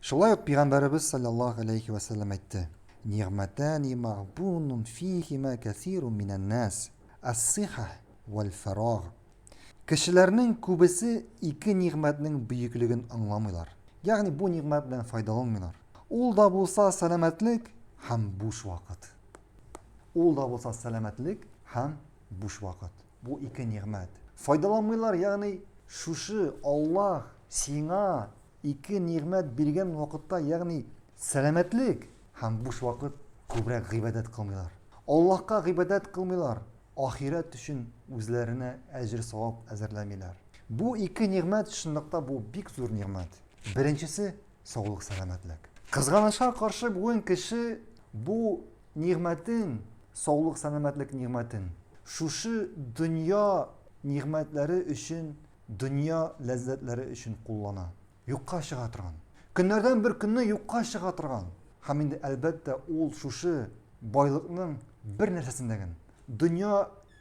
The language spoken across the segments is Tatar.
Шулай ук Пигамбәребез салләллаһу галәйһи вә сәлләм әйтте, Нигъмәтәни мәгъбунун фиһимә кәсирун минән-нас, ас-сиха вәл-фәрагъ. Кешеләрнең күбесе ике нигъмәтнең бөеклеген аңламыйлар, ягъни бу нигъмәт белән файдаланмыйлар. Ул да булса сәламәтлек һәм буш вакыт. Ул да булса сәламәтлек һәм буш вакыт. Бу ике нигъмәт. Файдаланмыйлар, ягъни шушы Аллаһ сиңа Ике нигъмәт биргән вакытта, ягъни сәламәтлек һәм буш вакыт, күбрәк гыйбадәт кылмыйлар. Аллаһка гыйбадәт кылмыйлар, ахирәт өчен үзләренә әҗер-савап әзерләмиләр. Бу ике нигъмәт, чынлыкта бу бик зур нигъмәт. Беренчесе, саулык-сәламәтлек. Кызганычка каршы, бүген кеше бу нигъмәтен, саулык-сәламәтлек нигъмәтен, шушы дөнья нигъмәтләре өчен Дөнья ләззәтләре өчен куллана. Юкка чыга торган. Көннәрдән бер көнне юкка чыга торган. Һәм инде, әлбәттә, ул шушы байлыкның бер нәрсәсен дә генә, дөнья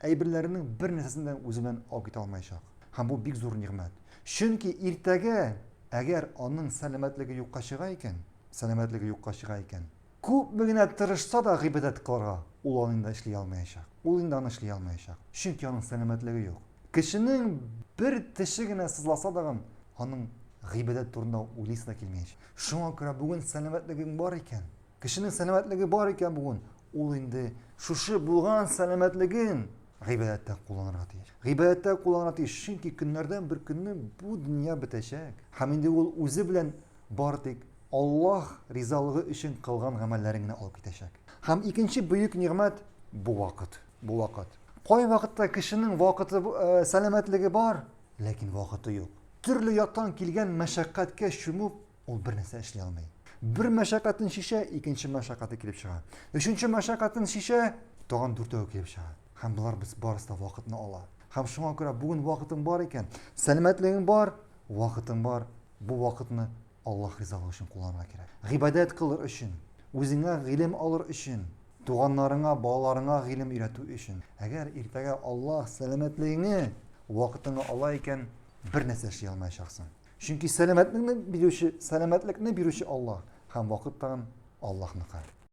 әйберләренең бер нәрсәсен дә үзе белән алып китә алмаячак. Һәм бу бик зур нигъмәт. Чөнки иртәгә, әгәр аның сәламәтлеге юкка чыга икән, сәламәтлеге юкка чыга икән, Күпме генә тырышса да гыйбадәт кылырга, ул аны инде эшли алмаячак. Ул инде аны эшли алмаячак. Чөнки аның сәламәтлеге юк. Кешенең бер теше генә сызласа дагын, аның гыйбадәт турында уйлыйсы да килмәячәк. Шуңа күрә бүген сәламәтлегең бар икән, кешенең сәламәтлеге бар икән бүген, ул инде шушы булган сәламәтлеген гыйбадәттә кулланырга тиеш. Гыйбадәттә кулланырга тиеш, чөнки көннәрдән бер көнне бу дөнья бетәчәк. Һәм инде ул үзе белән Бары тик Аллаһ ризалыгы өчен кылган гамәлләрең генә алып китәчәк. Һәм икенче бөек нигъмәт бу вакыт. Бу вакыт. Кайвакытта кешенең вакыты, сәламәтлеге бар, ләкин вакыты юк. Төрле яктан килгән мәшәкатькә чумып, ул бернәрсә эшли алмый. Бер мәшәкатен чишә, икенче мәшәкате килеп чыга. Өченче мәшәкатен чишә, тагын дүртәве килеп чыга. Һәм болар без барысы да вакытны ала. Һәм шуңа күрә бүген вакытың бар икән, сәламәтлегең бар, вакытың бар, Бу вакытны Аллаһ ризалыгы өчен кулланырга кирәк. Гыйбадәт кылыр өчен, үзеңә гыйлем алыр өчен, туганнарыңа, балаларыңа гыйлем өйрәтү өчен. Әгәр иртәгә Аллаһ сәламәтлегеңне, вакытыңны ала икән, бер нәрсә эшли алмаячаксың. Чөнки сәламәтлекне бирүче, сәламәтлекне бирүче Аллаһ һәм вакыт тагын Аллаһныкы.